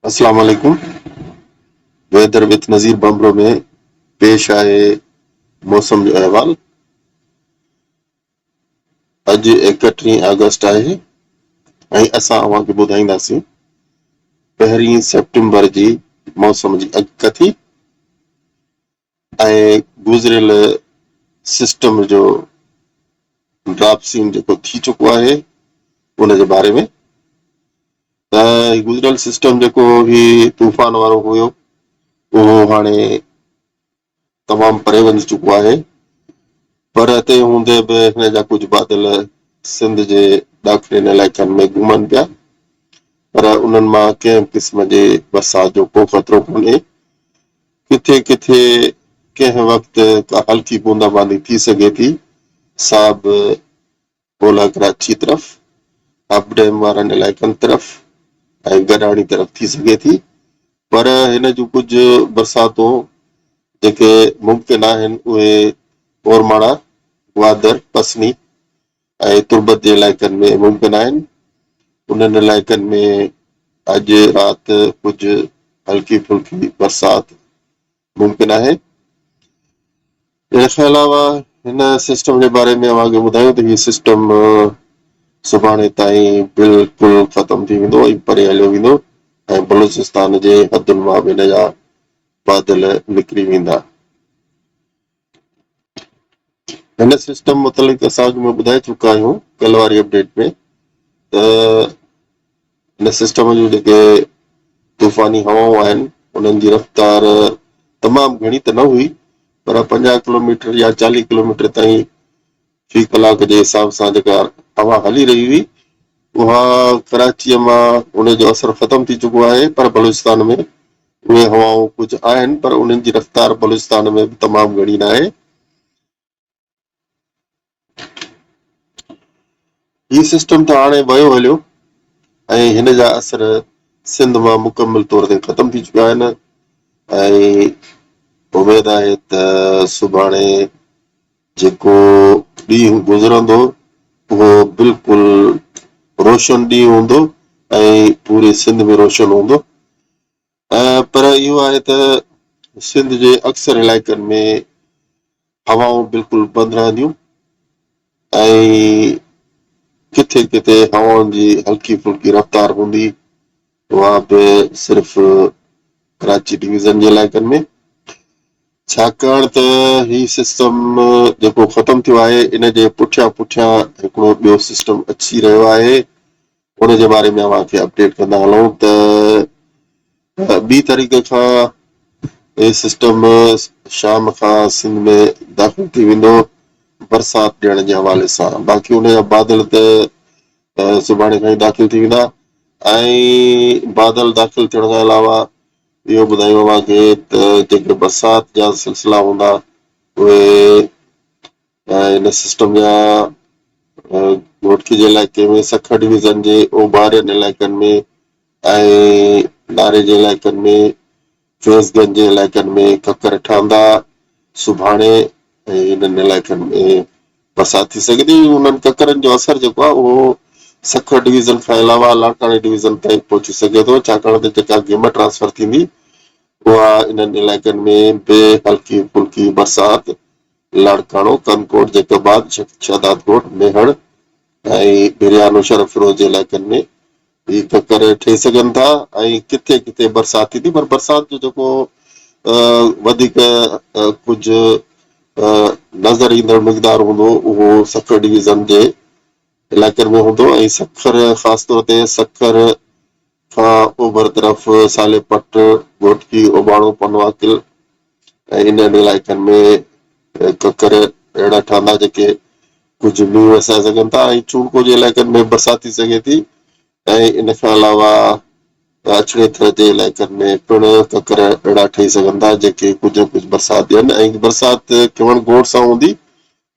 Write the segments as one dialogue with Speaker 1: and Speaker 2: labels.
Speaker 1: اسلام عليڪم weather with Nazir Bambhro ۾ پيش آهي موسم جو احوال اڄ ايڪٽيهين آگسٽ آهي ۽ اسان اوهان کي ٻڌائينداسين پهرين سيپٽمبر جي موسم جي اڳڪٿي ۽ گذريل سسٽم جو ڊراپ سين جيڪو ٿي چڪو آهي ان جي باري ۾ ته گذريل سسٽم جيڪو هي طوفان وارو هيو اهو هاڻي تمام پري وڃي چڪو آهي پر تنهن هوندي به هن جا ڪجهه بادل سنڌ جي ڏاکڙين علائقن ۾ گهمن پيا پر انهن مان ڪنهن به قسم جي برسات جو ڪو خطرو ڪونهي ڪٿي ڪٿي ڪنهن وقت ڪا هلڪي بوندا باندي ٿي سگهي ٿي، سا به اولهه ڪراچيء طرف، اپ ڊيم وارن علائقن طرف ۽ گڏاڻي طرف ٿي سگهي ٿي، پر هن جون ڪجهه برساتون جيڪي ممڪن آهن، اهي اورماڙا، گوادر، پسني، ۽ تربت جي علائقن ۾ ممڪن آهن، انهن علائقن ۾ اڄ رات ڪجهه هلڪي ڦلڪي برسات ممڪن آهي. ان کان علاوه هن سسٽم جي باري ۾ اوهان کي ٻڌايون ته هي سسٽم سڀاڻي تائين بلڪل ختم ٿي ويندو ۽ پري هليو ويندو ۽ بلوچستان جي حدن مان به هن جا بادل نڪري ويندا. هن سسٽم متعلق اسان اڳ ۾ ٻڌائي چڪا آهيون ڪلهه واري اپڊيٽ ۾ ته هن سسٽم جون جيڪي طوفاني هوائون آهن انهن جي رفتار تمام گهڻي ته نه هئي پر پنجاهه ڪلوميٽر يا چاليهه ڪلوميٽر تائين في ڪلاڪ جي حساب سان جيڪا هوا هلي رهي هئي اها ڪراچيء مان ان جو اثر ختم ٿي چڪو آهي پر بلوچستان ۾ اهي هوائون ڪجهه آهن پر انهن جي رفتار بلوچستان ۾ به تمام گهڻي ناهي. هي سسٽم ته هاڻي ويو هليو ۽ هن جا اثر سنڌ مان مڪمل طور تي ختم ٿي چڪا آهن ۽ اميد آهي ته سڀاڻي جيڪو ڏينهن گذرندو اهو بلڪل روشن ڏينهن هوندو ۽ پوري سنڌ ۾ روشن هوندو پر اهو آهي ته سنڌ جي اڪثر علائقن ۾ هوائون بلڪل بند رهنديون ۽ ڪٿي ڪٿي هوائن جي هلڪي ڦلڪي رفتار هوندي اها به صرف ڪراچي ڊويزن جي علائقن ۾ ڇاڪاڻ ته هي سسٽم جيڪو ختم ٿيو آهي ان جي پٺيان پٺيان هڪڙو ٻيو سسٽم اچي رهيو آهي ان جي باري ۾ اوهان کي اپڊيٽ ڪندا هلون ته ٻي طريقي کان هي سسٽم شام کان سنڌ ۾ داخل ٿي ويندو برسات ڏيڻ جي حوالي سان باقي ان جا بادل ته سڀاڻي کان ئي داخل ٿي ويندا ۽ بادل داخل ٿيڻ کان علاوه اهو ٻڌايون اوهان کي ته جيڪي برسات جا سلسلا هوندا اهي ان سسٽم جا گهوٽڪي جي علائقي ۾ سکر ڊويزن جي اوڀارين علائقن ۾ ۽ ناري جي علائقن ۾ فيض گنج جي علائقن ۾ ڪڪر ٺهندا، سڀاڻي ۽ انهن علائقن ۾ برسات ٿي سگهي ٿي، انهن ڪڪرن جو اثر جيڪو آهي اهو سکر ڊويزن کان علاوه لاڙڪاڻي ڊويزن تائين پهچي سگهي ٿو، ڇاڪاڻ ته جيڪا گيم ٽرانسفر ٿيندي اها انهن علائقن ۾ به هلڪي ڦلڪي برسات لاڙڪاڻو، ڪنڌڪوٽ، جيڪب آباد، شهدادڪوٽ، ميهڙ ۽ ڀريا نوشهروفيروز جي علائقن ۾ جي ڪڪر ٺهي سگهن ٿا ۽ ڪٿي ڪٿي برسات ٿيندي پر برسات جو جيڪو وڌيڪ ڪجهه نظر ايندڙ مقدار هوندو اهو سکر ڊويزن جي علائقن ۾ هوندو ۽ سکر خاص طور تي سکر کان اوڀر طرف سالي پٽ، گهوٽڪي، اوباڻو، پنواڪل، ۽ انهن علائقن ۾ ڪڪر اهڙا ٺهندا جيڪي ڪجهه مينهن وسائي سگهن ٿا ۽ چونڊڪو جي علائقن ۾ برسات ٿي سگهي ٿي ۽ ان کان علاوه اڇڙي ٿر جي علائقن ۾ پڻ ڪڪر اهڙا ٺهي سگهن ٿا جيڪي ڪجهه نه ڪجهه برسات ڏين ۽ برسات ڪيون گوڙ سان هوندي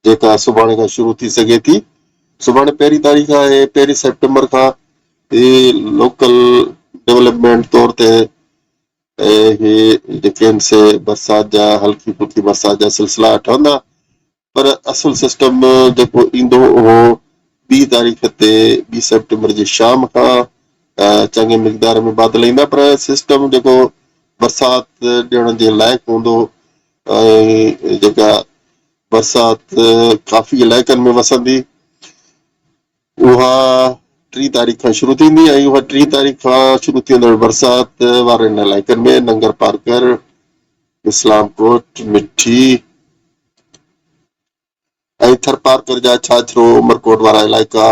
Speaker 1: جيڪا سڀاڻي کان شروع ٿي سگهي ٿي سڀاڻي پهرين تاريخ آهي پهرين سيپٽمبر کان هي لوڪل ڊيولپمينٽ طور تي اهي جيڪڏهن سي برسات جا هلڪي ڦلڪي برسات جا سلسلا ٺهندا پر اصل سسٽم جيڪو ايندو اهو ٻي تاريخ تي ٻي سيپٽمبر جي شام کان چڱي مقدار ۾ بادل ايندا پر سسٽم جيڪو برسات ڏيڻ جي لائق هوندو ۽ جيڪا برسات ڪافي علائقن ۾ وسندي اها ٽي تاريخ کان شروع ٿيندي ۽ اها ٽي تاريخ کان شروع ٿيندڙ برسات وارن علائقن ۾ ننگر پارڪر، اسلام ڪوٽ، مٺي ۽ ٿرپارڪر جا ڇاڇرو عمرڪوٽ وارا علائقا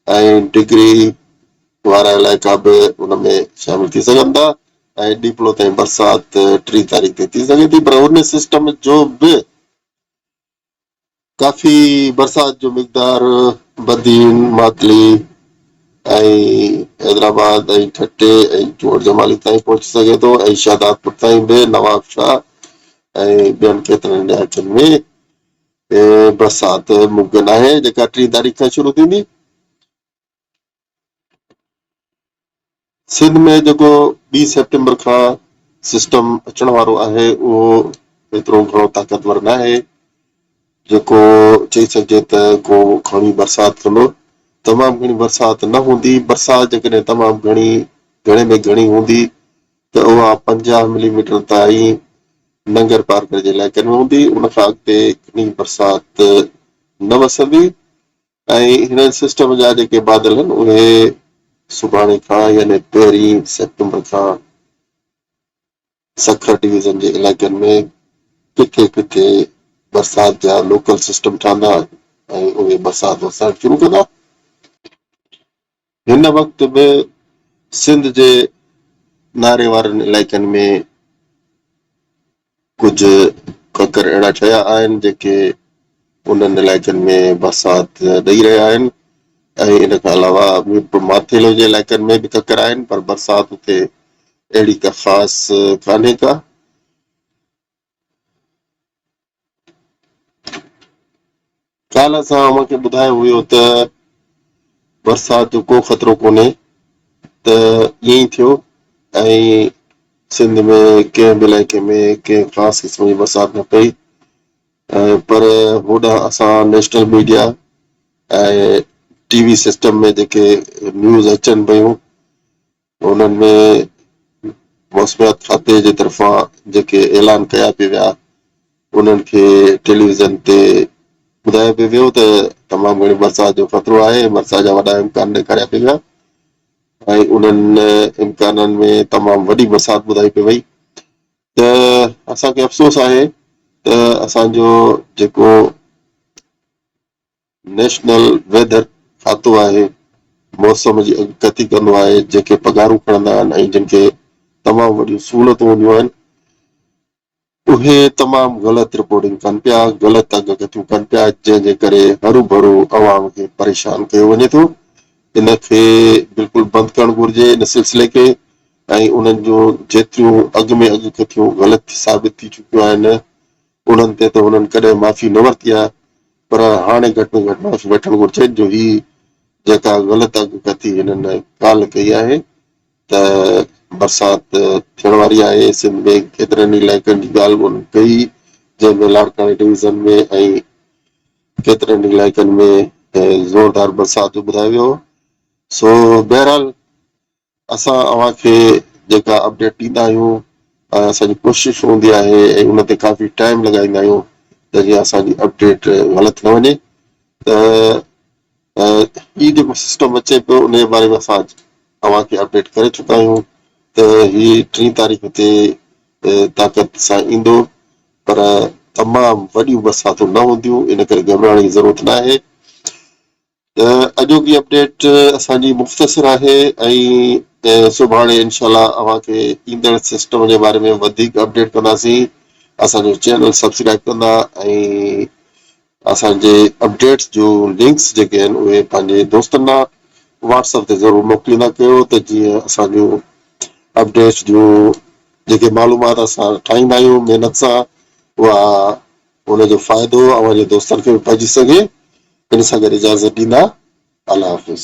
Speaker 1: ۽ ڊگري وارا علائقا به ان ۾ شامل ٿي سگهن ٿا ۽ ڏيپلو تائين برسات ٽي تاريخ تي ٿي سگهي ٿي پر ان سسٽم جو به ڪافي برسات جو مقدار بدين، ماتلي ۽ حيدرآباد ۽ ٺٽي ۽ چوهر جمالي تائين پهچي سگهي ٿو ۽ شهدادپور تائين به نوابشاهه ۽ ٻين ڪيترن علائقن ۾ برسات ممڪن آهي جيڪا ٽي تاريخ کان شروع ٿيندي. سنڌ ۾ جيڪو ٻي سيپٽمبر کان سسٽم اچڻ وارو آهي اهو ايترو گهڻو طاقتور ناهي جيڪو چئي سگهجي ته ڪو گهڻي برسات ڪندو تمام گهڻي برسات نه هوندي برسات جيڪڏهن تمام گهڻي گهڻي ۾ گهڻي هوندي ته اها 50 ملي ميٽر تائين ننگر پارڪر جي علائقن ۾ هوندي ان کان اڳتي گهڻي برسات نه وسندي ۽ هن سسٽم جا جيڪي بادل آهن اهي سڀاڻي کان يعني پهرين سيپٽمبر کان سکر ڊويزن جي علائقن ۾ ڪٿي ڪٿي برسات جا لوڪل سسٽم ٺهندا ۽ اهي برسات وسائڻ شروع ڪندا. هن وقت به سنڌ جي ناري وارن علائقن ۾ ڪجهه ڪڪر اهڙا ٺهيا آهن جيڪي انهن علائقن ۾ برسات ڏئي رهيا آهن ۽ ان کان علاوه ميرپور ماٿيلو جي علائقن ۾ به ڪڪر آهن پر برسات اتي اهڙي ڪا خاص ڪانهي ڪا. ڪالهه اسان اوهان کي ٻڌايو هيو ته برسات جو ڪو خطرو ڪونهي ته ائين ئي ٿيو ۽ سنڌ ۾ ڪنهن به علائقي ۾ ڪنهن خاص قسم جي برسات نه پئي پر هوڏانهن اسان national media ۽ T V system ۾ جيڪي نيوز اچن پيون انهن ۾ موسميات کاتي جي طرفان جيڪي اعلان ڪيا پي ويا انهن کي ٽيليويزن تي ٻڌايو پي ويو ته تمام گهڻي برسات جو خطرو آهي برسات جا وڏا امڪان ڏيکاريا پي ويا ۽ انهن امڪانن ۾ تمام وڏي برسات ٻڌائي پي وئي ته اسان کي افسوس آهي ته اسان جو جيڪو نيشنل ويڌر کاتو آهي موسم جي اڳڪٿي ڪندو آهي جنهن کي پگهارون کڻندا آهن ۽ جن کي تمام وڏيون سهولتون هونديون آهن اهي تمام غلط رپورٽنگ ڪن پيا غلط اڳڪٿيون ڪن پيا جنهن جي ڪري هروڀرو عوام کي پريشان ڪيو وڃي ٿو ان کي بلڪل بند ڪرڻ گهرجي ان سلسلي کي ۽ انهن جون جيتريون اڳ ۾ اڳڪٿيون غلط ثابت ٿي چڪيون آهن انهن تي ته هنن ڪڏهن معافي نه ورتي آهي پر هاڻي گهٽ ۾ گهٽ معافي وٺڻ گهرجين جو هي جيڪا غلط اڳڪٿي هنن ڪالهه ڪئي آهي ته برسات ٿيڻ واري آهي سنڌ ۾ ڪيترن ئي علائقن جي ڳالهه به هنن ڪئي جنهن ۾ لاڙڪاڻي ڊويزن ۾ ۽ ڪيترن ئي علائقن ۾ زوردار برسات جو ٻڌايو ويو سو بهرحال اسان اوهان کي جيڪا اپڊيٽ ڏيندا آهيون ۽ اسان جي ڪوشش هوندي آهي ۽ ان تي ڪافي ٽائيم لڳائيندا آهيون ته جيئن اسان جي اپڊيٽ غلط نه وڃي ته هي جيڪو سسٽم اچي پيو ان جي باري ۾ اسان اوهان کي اپڊيٽ ڪري چڪا آهيون ته هي ٽي تاريخ تي طاقت سان ايندو پر تمام وڏيون برساتون نه هونديون ان ڪري گهٻرائڻ جي ضرورت نه آهي ته اڄوڪي اپڊيٽ اسان جي مختصر آهي ۽ سڀاڻي انشاء الله اوهان کي ايندڙ سسٽم جي باري ۾ وڌيڪ اپڊيٽ ڪنداسين اسان جو چينل سبسڪرائب ڪندا ۽ اسان جي اپڊيٽس جو لنڪس جيڪي آهن اهي پنهنجي دوستن ڏانهن واٽس اپ تي ضرور موڪليندا ڪيو ته جيئن اسان جو اپڊيٽس جو جيڪي معلومات اسان ٺاهيندا آهيون محنت سان اها ان جو فائدو اوهان جي دوستن کي به پهچي سگهي ان سان گڏ اجازت ڏيندا الله حافظ.